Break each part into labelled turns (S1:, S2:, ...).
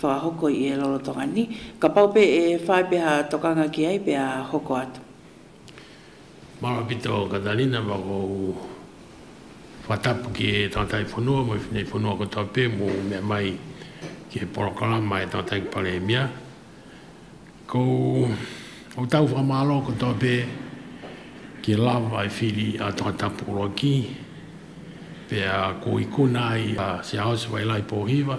S1: Whakahoko i e Lolotonga ni, ka paupe e whai peha tokanga ki ai pea hoko atu.
S2: Mara ki to Katarina ma kou whatapu ki e tatai whanua mo i whenei whanua ko tau pe mo u mea mai ki he porokarama e tatai paremia ko o tau whamalo ko tau pe ki love ai whiri a to tapu ro ki pea ko i kuna ai a se aos wai lai po hiva.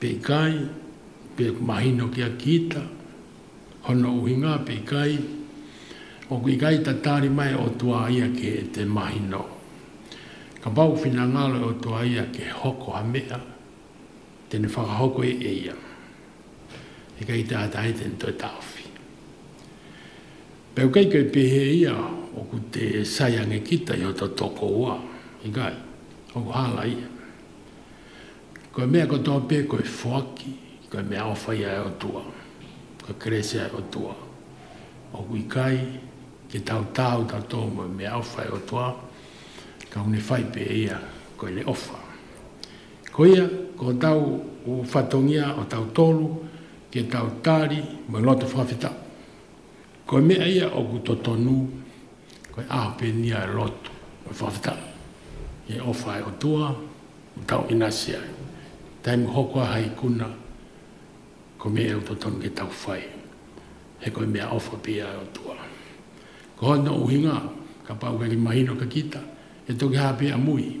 S2: Pei kai, pe mahino ki a Kita, Hono uhinga, pei kai, Oku i kai ta tari mai o tua ia ke te mahino. Ka pau fina ngalo o tua ia ke hoko ha mea, tene whakahoko i e ia. I kai te atahe te nto e tawhi. Peu kai kai pehe ia oku te sai ange Kita i ho to toko ua, i kai, oku hala ia. Kua mea ko tō pē kua whaki, kua mea o whai ai o tua, kua kerese ai o tua. O kui kai, ke tau tāu tā tō mua mea o whai o tua, ka hune whai pē ia koe le ofa. Koia, ko tau u whatongia o tau tolu, ke tau tāri, mua loa te whawhita. Koe mea ia oku to tonu, koe ahopeenia e Lot, koe whawhetangi, e Ofa e o tua, o tau Inasia, taimu hokoa hai kuna, koe mea au to tonu ke tau whai, he koe mea Ofa pea e o tua. Ka hoi no uhinga, ka pau keri mahino ka kita, e toki hapea mui.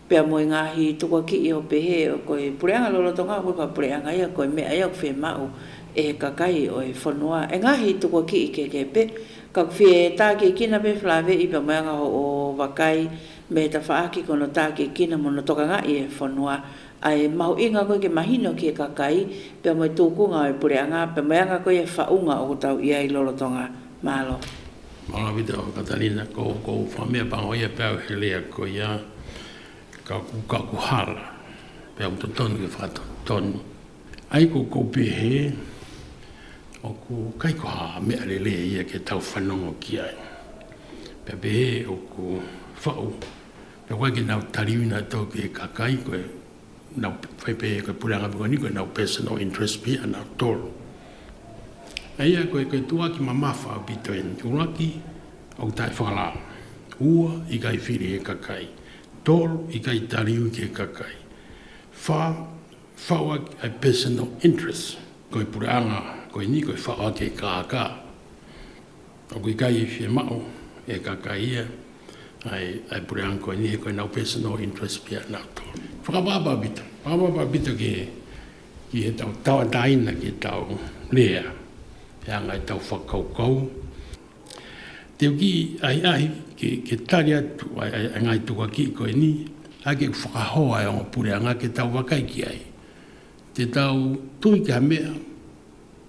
S1: Pea moe ngahi to kua kii o pehe o koe pureanga lo roto nga koe ka pureanga ia koe me ai au whee mau e he kakai oe whanoa e ngahi to kua kii ke ke pe ka kuwhie e ta ke kina pe flave i pea moe anga ho o wakai me he ta whaa ki kono ta ke kina mono toka nga i e whanoa a e mahu inga koe ke mahino ki he kakai pea moe to kunga oe pureanga pea moe anga koe e whaunga o kotau ia i lo roto nga malo. Maravita
S2: o Katarina ko kou whamea pa hoia pe au he lea ko ia ka ku ka ku hara pe au to tonu e whaka tonu ai ko kou pehe o ku kai ko ha mea le lea ia ke tau whanongo ki ai pe pehe o ku whau pe koe ke nau tariwina to ke ka kai koe Nau whai pei e koe pure anga wiko ni koe nau personal interest pia nau toro. Ei a koe koe tua ki mamafa au pito e uraki au tai whakala. Ua i kai whiri he kakai. Toro i kai tariu ki he kakai. Wha, whaua ki ai personal interest. Koe pure anga koe ni koe whaua ki he kākā. Ko kui kai i whi mao e ka kai ia, I, I put down koe ni he koe nau personal interest pia na to. Whakapapa bita, whakapapa bita ki he, ki he tau tawa taina ki he tau rea, he anga he tau whakau kau. Te uki ahi ahi ki, ki tari atu, I, I, I ngai tuka ki koe ni, ai ke whakahoa e onga pureanga ke tau wakaiki ai, te tau tui ki ha mea,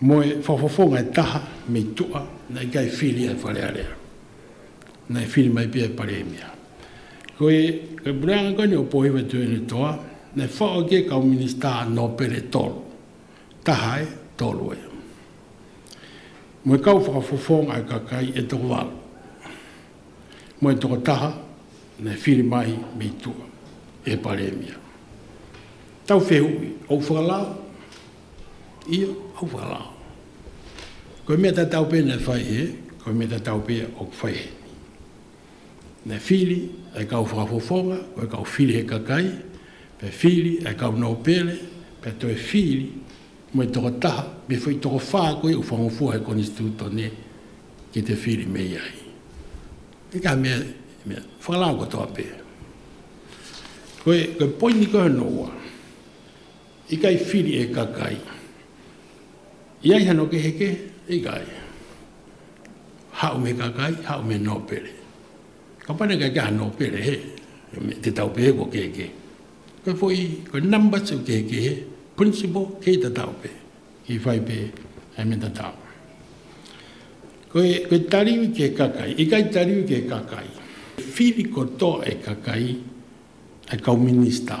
S2: Moe whawhawho ngai taha me i toa nei kai whiri ai wharearea. Nei whiri mai pia e Pareemia. Koe, kai Brown koe nei o Pohiwa Tuene toa, nei whao ke kau minista no pere tolu. Taha e, tolu e. Moe kau whakawhawho ngai ka kai e toko walu. Moe toko taha, nei whiri mai me i toa e Pareemia. Tau whehui, ou whakalau? I uwha la. Koe me ta taupe ne whai he, koe me ta taupe o whai he. Ne whiri e kau whakafofonga, koe kau whiri he kakai, pe whiri e kau no pele, pe to e whiri mo i toko taha, me whai toko wha koe u whangofua he koni stuto ne ki te whiri me iai. Te ka me, me, whakalau ko toa pe. Koe, koe poini koe no wa. I kai whiri e kakai. I ai hano ke heke, i kai. Hau me kakai, hau me no pere. Ka pane kai kia no pere he, te tau pehe ko ke ke. Koe fo i, koe number two ke ke he, principal ke i ta tau pe. I fai pe, e me ta tau. Koe, koe tariu ke kakai, i kai tariu ke kakai. Whiri ko to e kakai, e kau minister.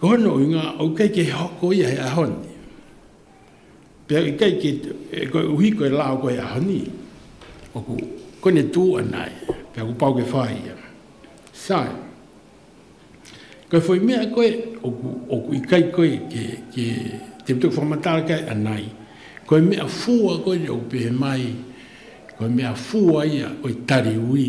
S2: Ka hono i ngā aukeike he hoko ia he ahoni. Pea i kai ke e koe uhi koe lao koe ahoni. Oku kone tū anai, pea ku pau ke whai ia. Sai. Kai whai mea koe, oku, oku i kai koe ke, ke te putu whamatara kai anai. Koe mea fua koe le upehe mai, koe mea fua ia koe tari ui.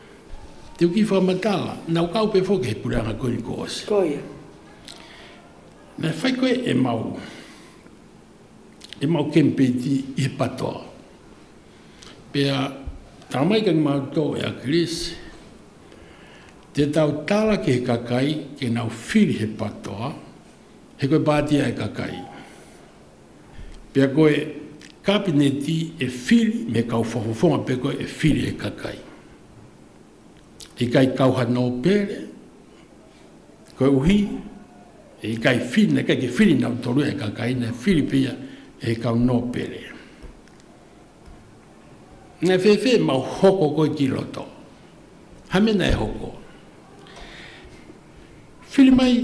S2: Te uki whamatala, na o kaupe foke he puranga koni ko osi. Ko ia. Na whai koe e mau, e mau kempeti i he patoa. Pea, tā mai kani mau tō e a Chris, te tau tala ki he kakai, ke nau whiri he patoa, he koe pātia e kakai. Pea koe Kapineti e whiri me kau whawhawha pea koe e whiri e kakai. I kai kau ha no pere, koe uhi, i kai whiri na kai ki whiri na utoru e kakai na whiri pia e kau no pere. Na whewhe ma hoko koe ki roto. Hamena e hoko. Whiri mai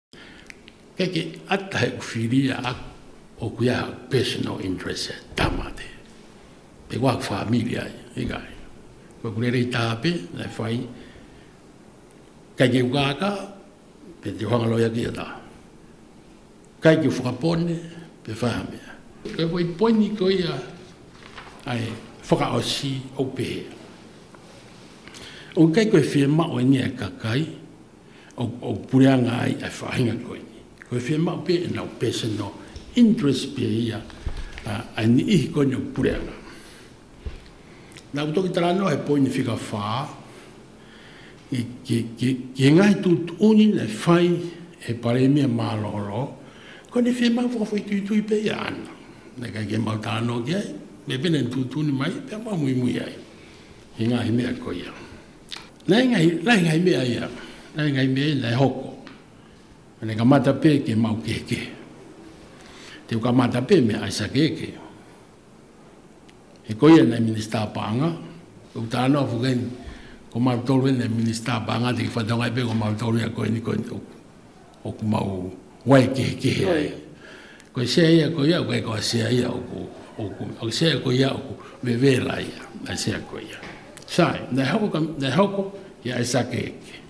S2: Keke ata he whiria o kui aha personal interest e tama te. Te wak whamiri ai, e kai. Kua kure rei tāpe, e whai. Kai ke ukaka, pe te whangaloi ake ata. Kai ke whakapone, pe whahamea. Kai wai poini ko ia ai whakaosi o pehe. O kai koe whi e mao e nge kakai, o pureanga ai e whāinga koe nei. Koe whea mau pē e nau personal interest pē ia ai ni ihi koe nei o pureanga. Nā ku toki tara anō he poini whika whā, ki, ki, ki, ki ngahi tū tūni nei whai he paremia mā loho loho, koe nei whea mau whakawhai tui tui pē ia ana. Nei kai ke mau tā anō ki ai, me pēnei tū tūni mai, pēa mau mui mui ai. Ki ngahi mea koe ia. Nāi ngāi, nāi ngāi mea ia, nāi ngāi mea ia, nāi hoko. Nāi ka mata pē ke mau ke ke. Te uka mata pē me aisa ke ke. He koia nāi minister pānga, ko uta anō a whukai ni, ko maru tōru e nāi minister pānga te ki whatongai pē ko maru tōru e a koe ni koe ni tōku. Oku mau wai kehekehe ai. Ko i sea ia ko ia, wei koa sea ia oku, oku, o sea ko ia oku, me wela ia, a sea ko ia. Sai, nei hoko ka, nei hoko, ia e sa keke.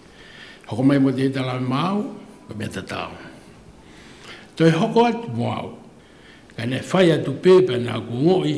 S2: Hoko mai mo te ita la mau, ko me ta tau. Toi hoko atu mo au, ka ne fai atu pepa na ku ngoi,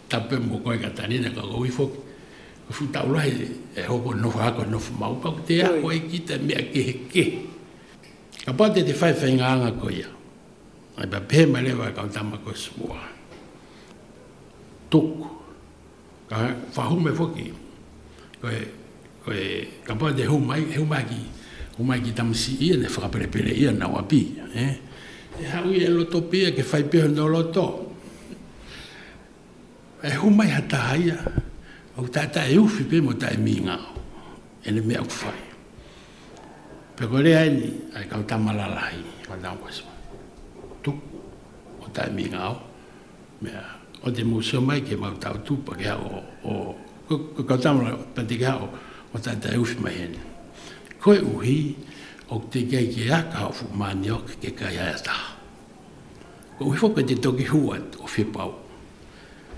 S2: Tape mo koe ka tani na ka gowi fok ko fu tau lai e ho ko no fa ko no fu mau ka te a ko e ki te me a ke he ke ka pa te te fai fai nga nga ko ia ai ba pe ma le va ka ta ma ko su wa tuk ka fa hu me foki Koe, koe, ka pai te hou mai, hou mai ki, hou mai ki Tamisi ia nei, whakaperepere ia nā wā pī, ē. E haui e roto pea kia whai peho nō roto. E hou mai ha taha ia, au tātā e uwhi pea mō tae mīngao, e nei mea aku whai. Pea koe rea e nei, ai kau tamararahi, kau nā wā sima. Tuku, o tae mīngao, Mea, ko te mōsio mai ki mau tau tūpa ki hao o, ko kau tāmara pati ki hao o tātai uwhi mai hēne. Koe uhi, o te kei ki a ka hawhu māni o ke kai haea taha. Ko uhi whau kei te toki hua o whipau.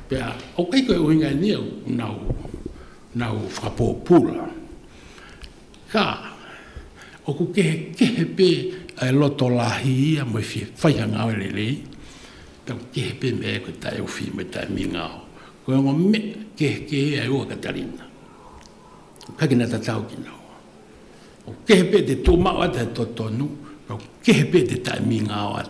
S2: Pea, o kei koe uhi ngai ni au, nau, nau whakapō pūra. Ka. Oku kehekehe pe e loto lahi ia mo fi fai a ngao le lei. Ka kehe pe me ko tai o fi me tai mi ngao. Ko ngo me kehekehe ai o Katarina. Ka kina ta tau ki no. O kehe pe te to ma o ta to tonu. Ka kehe pe te tai mi ngao at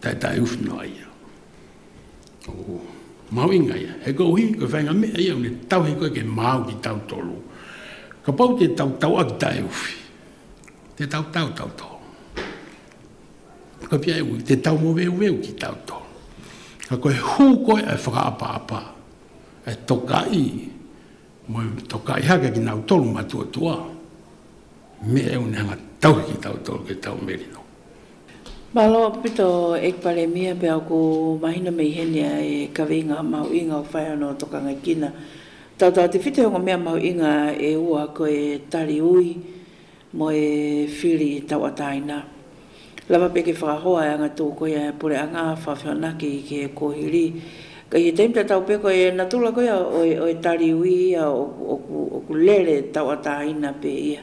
S2: Tae tae uwhi noa ia. Ko Maui nga ia, he ko uhi, ko whainga mea ia, une tau he koe ke māu ki tau tolu. Ka pau te tau tau a ki tae uwhi. Te tau tau tau tau. Ka pia e ui, te tau mo veu veu ki tau tau. Ka koe hū koe e whakaapa apa, e toka i, mo e toka i hake ki nau tolu matua tua. Me e une hanga tau ki tau tolu ke tau merino. Ballot
S1: Pito Ekpalemia pea ko Mahina me Ihenia e kawe i ngā mahu inga o whai anō toka ngai kina. Tata te whiti o ngā mea mahu inga e ua ko e Tari Ui mo e Whiri Tawataina. Lawa pea ke whakahoa e anga tō koia e pore anga whawhio naki ke kohiri. Kai he teim tatau pea koe e na tula koia o e Tari Ui ia oku lere tawataina pea ia.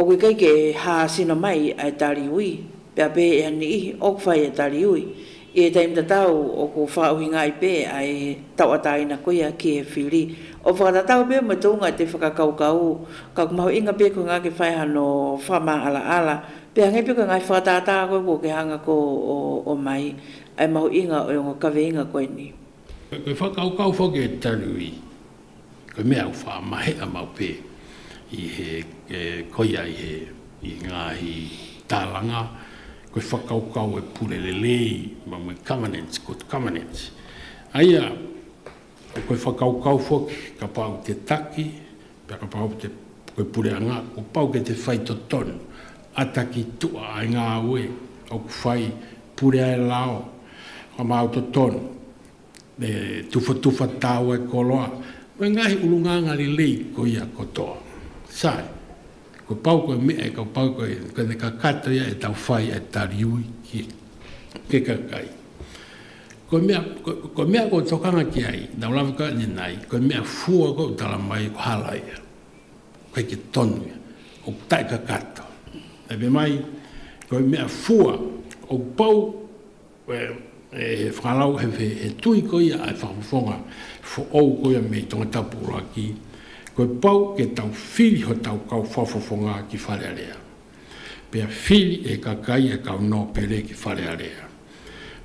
S1: Oke keike e ha sina mai a e tari ui, pea pe e ani ihi, ok fai e tari ui. I e taim tatau o ko fa uhi nga i pe a e tau ataina ko ia ki e firi. O whakatatau pe mo to nga te whakakaukau, ka ku mahu inga pe ko nga ke fai ha no fa ma ala ala, pe hange pe ko nga i whakatata koe ko ke hanga ko o o mai, a e mahu inga o e ngo kaweinga koe ni. E whakaukau
S2: foki e tari ui. Ko mea u wha mahe a mau pē i he koia i he i ngā i tāranga koe whakaukau e purelele i ma mui covenants ko covenants aia ko koe whakaukau whoki ka pau te taki pea ka pau te koe pure anga ko pau ke te whai to tonu a taki tua ai ngā ue o ku whai pure ai lao ka mau to tonu. Me tuwhatuwha tāwai kua roa. Koe ngāhi uru ngāngari lei koia kotoa. Sai. Kua pau koe mea e kau pau koe koe ne ka kato ia e tau whai e tariui ki ke kakai. Koe mea koe mea koe tokanga ki ai na ulawe koe ni nai koe mea fua koe utala mai ko hala ia. Koe ki tonu ia. O tai ka kato. Ebe mai koe mea fua o pau He whakarau, he tuhi koia ai whakawhonga for ou koia me tonga tapura ki koe pau ke tau whiri ho tau kau whawhawhonga ki Wharearea. Pea whiri he kakai e kau no pere ki Wharearea.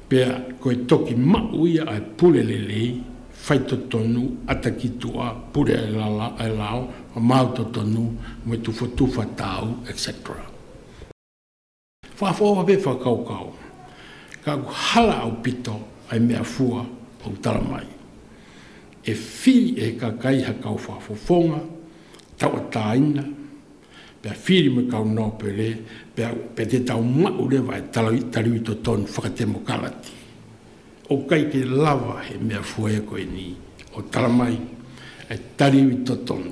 S2: Pea koe toki mauia ai pure lelei, whai totonu, ata ki tua, pure ai lala ai lao, whamau totonu, me tuwha tuwha tau, etc. Whawhau ake whakaokao. Ka hala au pito ai mea whua au tara mai. E whiri e he kakai ha kau whawhawhonga, tau a taina, pea whiri me kau nope re, pea pe te tau mau rewa e tarawi tariwi to tonu whakatemo karati. O kai ke lawa he mea whua e koe ni, o tara mai, e tariwi to tonu.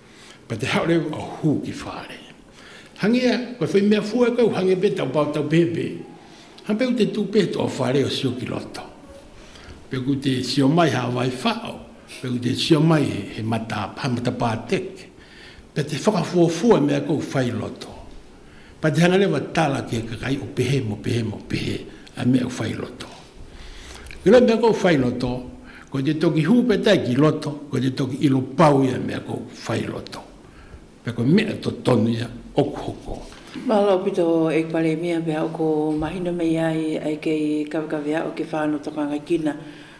S2: Ko te haoreu a hū ki whāre. Hangia, kua whai mea fua kau hange be tau pao tau pepe. Ha peu te tū pe toa whāre o sio ki roto. Pe ku te sio mai ha vai whao, pe ku te sio mai he mata, he mata pāteke. Pe te whakafuafua mea kau whai roto. Pa te hanga lewa tala ki a kakai o pehe mo pehe mo pehe a mea u whai loto. Ki lo mea kou whai loto, ko te toki hupetai ki loto, ko te toki ilo pau ia mea kou whai loto. Pe ko mea to tonu ia oku hoko. Ma
S1: lo pito e Paremia pea o ko mahina mei ai ai kei kawekawe au ke whano tokanga kina.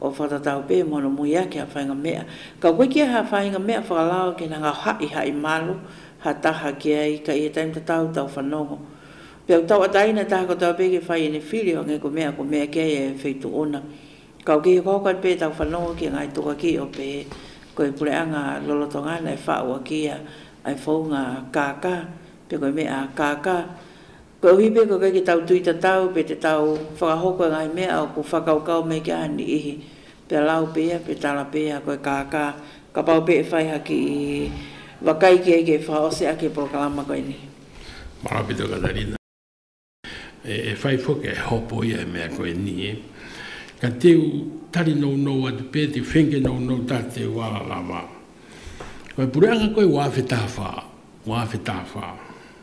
S1: o Whakatau Bay mō ana moe ake a Whaingamea. Ka koe ki a Whaingamea whakalao ake nā ngā haʻihaʻi malo, ha taha ki a i ka ia taim ta tau tau whanongo. Pea u tau ata ina taha Whakatau Bay ke whai ene whiri o nge ko mea ko mea ki a ia e whei tu ona. Ka oki he kohoka Bay tau whanongo ki a Ngai Toka ki o Bay ko e pure anga lolotonga ana e wha ua ki ia ai whou ngā kākā, pea koe me a kākā Ko Hipe ko kei ki tau tui ta tau pe te tau whakahoko e ngahi mea o ko whakaokao me ki a ni ihi pea lau pea pe tala pea ko e kaka ka pau pe e whai haki i wakai ki eike whakaose ake porokalama koe ni. Marapito
S2: Katarina e whai foke e hopo ia e mea koe ni ka teu tari nou nou atu pe te whenke nou nou ta teu ala lava ko e pureanga koe wa wheta wha wa wheta wha.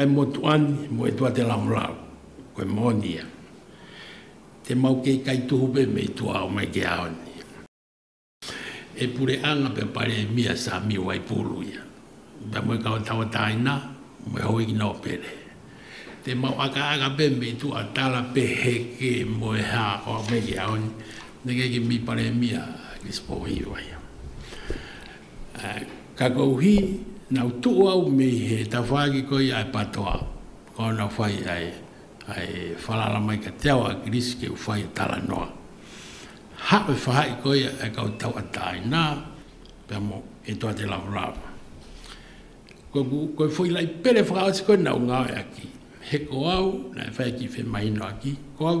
S2: Ai motu ani mo e tua te lamolau, ko e moni ia. Te mau kei kai tuhupe me i tua o mai ke ao ni. E pure anga pe pare e mia sa mi wai pulu ia. Ba mo e kau tau tai na, mo e hoi ki na o pere. Te mau aka aka pe me i tua tala pe he ke mo e ha o mai ke ao ni, ne ke ke mi pare e mia, ke spohi wai. Ka kau hi, nau tuu au me he tawhaaki ko ia e patoa, ko ana whai ai, ai whalaala mai ka te ao a Greece ki u whai e tala noa. Hap e whahai ko ia e kau tau a tae na, pea mo e toa te lavalava. Ko ku, koe whoi lai pere whakaoti koe nau ngawe aki, he ko au, na e whai ki whemahino aki, ko au,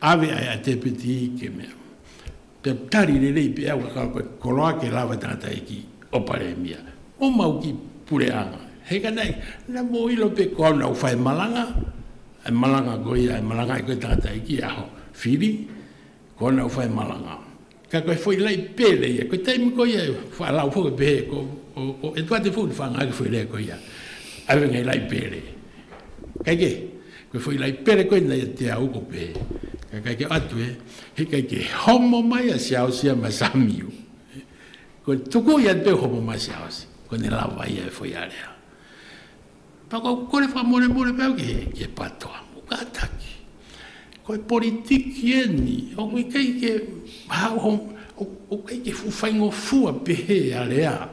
S2: Awe ai a Te Whiti ke mea, Te Tari Rerei pea kua kaua koe, ko roa ake rawa tangata e ki, o Paremia, o mau ki Pureanga, heka nei, na mo ilo pe ko au nau whai malanga, e malanga koe ia, e malanga ai koe tangata e ki, aho, whiri, ko au nau whai malanga. Ka koe whoi lei pēle ia, koe tei muko ia e whālau whoi pē, ko e tuate whoi whāngai ki whoi lei koe ia, awe ngei lei pēle. Kai ke, koe whoi lei pēle koe nei e te au ko pē, ka kai ke atu e, he kai ke homo mai a siaosi a masamiu. Koe tuku ia te homo mai siaosi, koe ne lawa ia e whoi area. Taka o kore whamoremoe kau ki he ke patoa mo ka taki. Ko e politiki e ni, o kui kei ke haho, o kei ke fufaingo fua pehe a rea.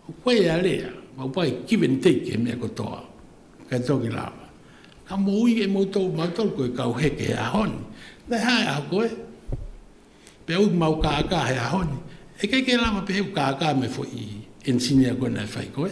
S2: O koe a rea, mau pai give and take he mea kotoa. Kei toki la, ka mo ui e mo tau ma tau koe kau he ke a hon. Nei hai a koe, pe ui mau ka ka he a hon. E kei ke la ma pehe u ka ka me fo i engineer koe nei fai koe.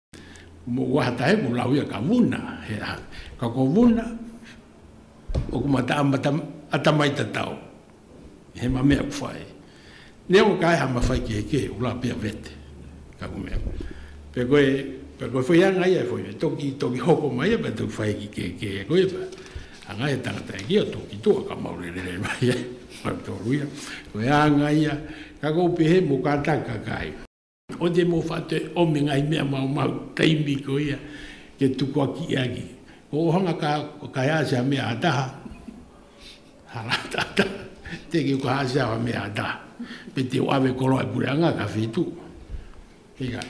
S2: Wa hata he kula wia ka wuna he aha. Ka ko wuna o kuma ta amata ata mai ta tau. He ma mea kufai. Nia o kai hama fai ke ke ula pia vete. Ka kumea. Pe koe, pe koe fai anga ia fai. Toki, toki hoko mai ia pe tu fai ki ke ke e koe pa. Anga e tanga ta ia toki tu a kama ule le mai ia. Ka to wia. Koe anga ia. Ka ko pehe mo ka ta ka kai. O te mo wha te o me ngai mea mau mau, ka imi ko ia, ke tukua ki ia ki. Ko ohanga ka, ko ka hea se a mea a taha, ha ra ta ta, te ki ko ha se a mea a taha. Pe te o ave koro a pure anga ka whi tu. Hei kai.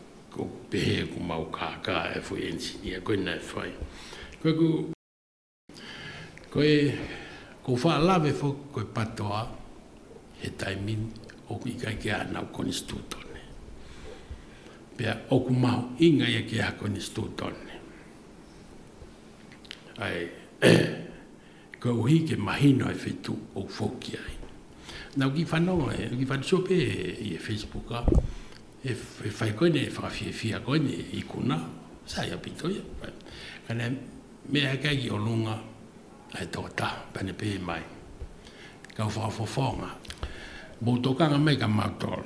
S2: Ko Pehe, ko mau kākā e whai engineer koina e whai. Koe ko. Koe ko Whaalawe who koe patoa he taiming oku i kai ki a Hanau Konistutone. Pea oku mahu inga ia ki a Konistutone. Ae. Ka uhi ke mahi noa e whetu o whoki ai. Nau ki whanau ai, ki whanau sope i e Facebook a, e whai koe nei, e whakawhia fia koe nei i kuna, sa ia pito ia. Ka nei, me a kai ki o lunga, ai tō ta, pane pē mai. Ka uwha o whawhonga. Mō tō kanga mai ka mātoro.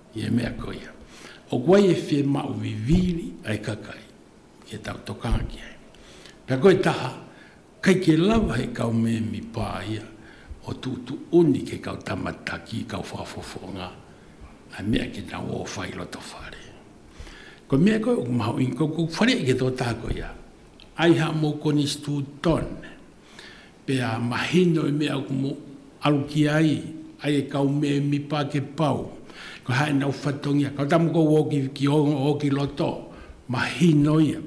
S2: I e mea ko ia, O koe e whe mau viviiri ai ka kai, kia tautoka ake ai. Pea koe taha, kai ke lawa he kau meemi pa ia, o tu tu uni ke kau tamataki kau whafofonga, a mea ki na wo whai roto whare. Ko mea koe o mahu in koukou whare ke to taha ko ia, Ai ha mo koni stu ton. Pea mahino me au kumo aruki ai, ai e kau me mipa ke pau. Ko hae na ufatongia, kau tamu kou o ki ki o o ki loto, mahino ia.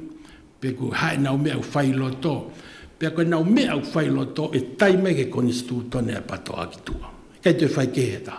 S2: Pe ku hae na ume au fai loto, pea koe na ume au fai loto e tai mai ke koni stutone a patoa ki tua. Kai toi fai ke he ta,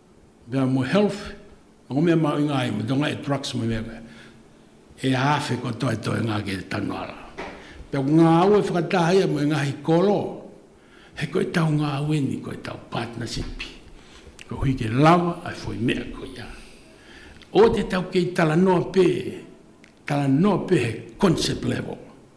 S2: There are more health, nō ngā mea māu i ngā iwi, nō ngā e drugs me mea koe. E hāwhe kua toetoe ngā ki te tanu ara. Pea ko ngā au e whakatahia me ngā hi koro, he koe tau ngā wini, koe tau partnership. Ko hui ke lawa, ai fwoi mea koe ia. O te tau kei tala noa pē, tala noa pē he concept level.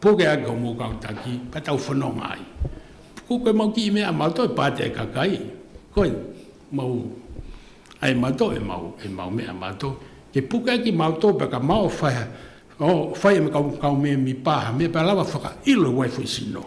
S2: Puke ake o Mōkautaki, ka tau whanonga ai. Ko koe mau ki i mea mātou e pātai kaka ai, koe mau, ai mātou e mau, e mau mea mātou, ke puke ake māu tōpe ka māu whai, o, whai me kāu, kāu memi pāha, me pā lawa whakailo wai whai sino.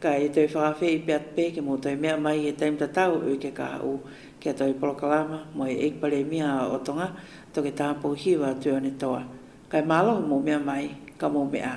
S1: Ka e tau whawhe i pea te pēke mō tau mea mai e Dame Tatau u ke kaha u ki a tau polokalama moe e pare mia a o Tonga to ke taha pou hiu a Tuone Toa. Kai māloho mō mea mai, ka mō me a.